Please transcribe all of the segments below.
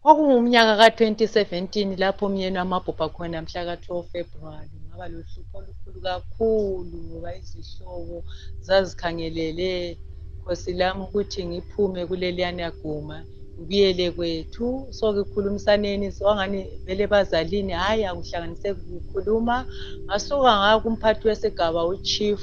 Kwakungumnyaka ka 2017 lapho umyeni wamabhubha khona mhlaka 12 February ngaba lohlupho olukhulu kakhulu ngoba izihlobo zazikhangelele khosi lami ukuthi ngiphume kuleliyana guma ngibuyele kwethu so ngikhulumisaneni wangani vele bazalini hhayi akuhlanganiseki kukhuluma ngasuka ngakumphathi wesigaba uchief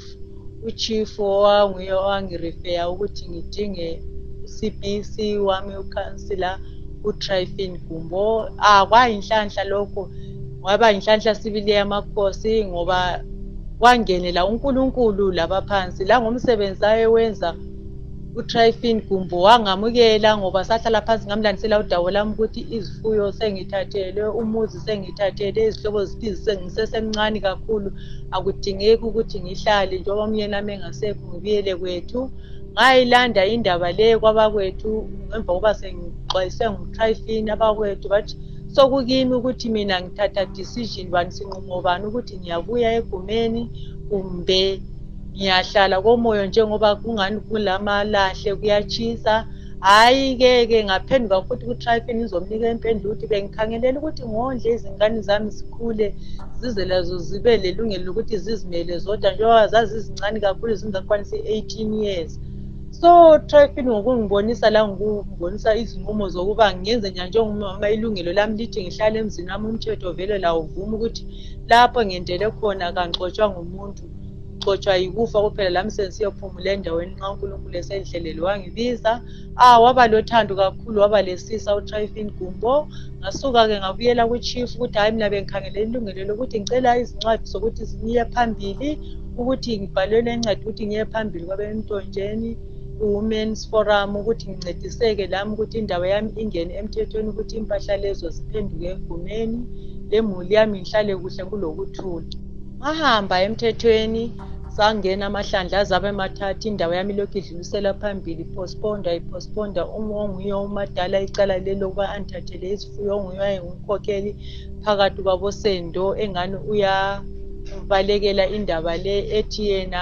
uchief owanguye owangirifeya ukuthi ngidinge ucbc wami ukhansila utrifin gumbo ah kwayinhlanhla lokho waba yinhlanhla sibili yamakhosi ngoba wangenela unkulunkulu laba phansi langomsebenzi ayewenza utrifin gumbo wangamukela ngoba sahlala phansi ngamlandisela udawo lami ukuthi izifuyo sengithathelwe umuzi sengithathele izihlobo zithi sengisesemncane kakhulu akudingeki ukuthi ngihlale njengoba umyeni ami engasekho ngibuyele kwethu ngayilanda indaba le kwabakwethu emva kokuba sengixwayiswe ngutrifin abakwethu bathi sokukimi ukuthi mina ngithatha decision bani sinqumo bani ukuthi ngiyabuya egumeni kumbe ngiyahlala komoyo njengoba kungani kulamalahle kuyatshisa hhayi ke ke ngaphenduka futhi ku-trifin ngizomnika impendulo ukuthi bengikhangelele ukuthi ngondle izingane zami zikhule zize lazo zibe lelungelo lokuthi zizimele zodwa njengoba zazizincane kakhulu zingakwanisa i-eighteen years so trifin ngokungibonisa la ngikubonisa izinqumo zokuba ngenze njani njengomama ilungelo lami lithi ngihlale emzini wami umthetho vele lawuvuma ukuthi lapho ngentele khona kangixotshwa ngumuntu ngixotshwa yikufa kuphela lami sensiyophumula endaweni nxa unkulunkulu esenhlelele wangibiza ah waba lothando kakhulu waba lesisa utrifin gumbo ngasuka-ke ngabuyela kuchief ukuthi hhayi mina bengikhangele ilungelo lokuthi ngicela izincwadi zokuthi ngiye phambili ukuthi ngibhalelwe incwadi ukuthi ngiye phambili kwabemtontsheni i-women's forum ukuthi ngincediseke lami ukuthi indawo yami ingene emthethweni ukuthi impahla lezo ziphenduke egumeni lemuli yami ngihlale kuhle kulokuthula ngahamba emthethweni sangena amahlandla azabe emathatha indawo yami lokhu idlulisela phambili postponda iphostponda onguye umadala icala lelo ukuba andithathele izifuyo onguye wayengumkhokheli phakathi kwabosendo engani uyabalekela indaba le ethi yena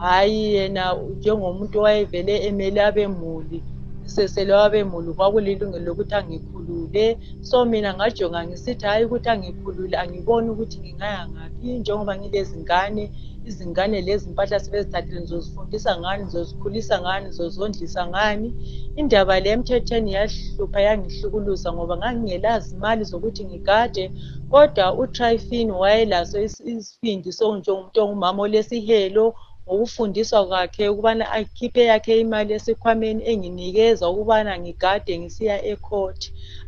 hhayi yena njengomuntu owayevele emele abemuli sesele abemuli kwakulilungelo lokuthi angikhulule so mina ngajonga ngisithi hhayi ukuthi angikhulule angiboni ukuthi ngingaya ngaphi njengoba ngilezingane izingane lezi mpahla sebezithathile ngizozifundisa ngani ngizozikhulisa ngani ngizozondlisa ngani indaba le emthethweni yahlupha yangihlukuluza ngoba ngangingelazi imali zokuthi ngigade kodwa utrifin wayelaso usindiswe njengomuntu ongumama olesihelo ngokufundiswa kwakhe ukubana akhiphe yakhe imali esikhwameni enginikeza ukubana ngigade ngisiya ecourt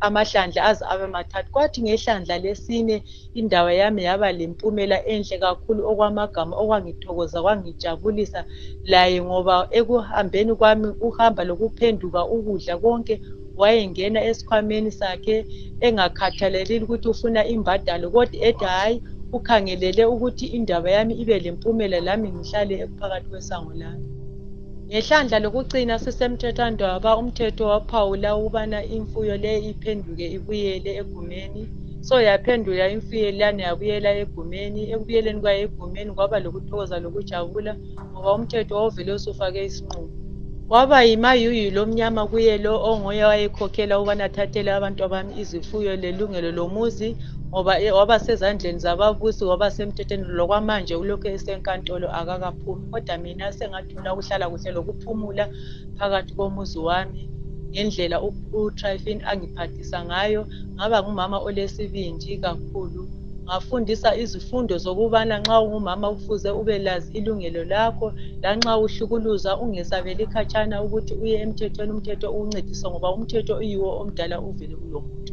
amahlandla aze abe mathathu kwathi ngehlandla lesine indawo yami yaba lempumela enhle kakhulu okwamagama okwangithokoza kwangijabulisa laye ngoba ekuhambeni kwami ukuhamba lokuphenduka ukudla konke wayengena esikhwameni sakhe engakhathaleli ukuthi ufuna imbadalo kodwa ethi hhayi ukhangelele ukuthi indaba yami ibe lempumela lami ngihlale ekuphakathi kwesango lami ngehlandla lokucina sisemthethwandaba umthetho waphawula ukubana imfuyo leyo iphenduke ibuyele egumeni so yaphendula imfuyo leyana yabuyela egumeni ekubuyeleni kwayo egumeni kwaba lokuthokoza lokujabula ngoba umthetho wawuvele usufake isinqumo waba yimayuyu lomnyama kuye lo onguye wayekhokhela ukubana athathele abantu abami izifuyo lelungelo lomuzi ngoba e, waba sezandleni zababusi waba semthethweni lokwamanje kulokhu esenkantolo akakaphumi kodwa mina sengathula ukuhlala kuhle lokuphumula phakathi komuzi wami ngendlela utrifin angiphathi ngafundisa ngayo ngaba ngumama olesibindi kakhulu ngafundisa izifundo zokubana nxa ungumama kufuze ubelazi ilungelo lakho lanxa uhlukuluzwa ungesabeli khatshana ukuthi uye emthethweni umthetho ukuncedisa ngoba umthetho uyiwo omdala uvele ulomuntu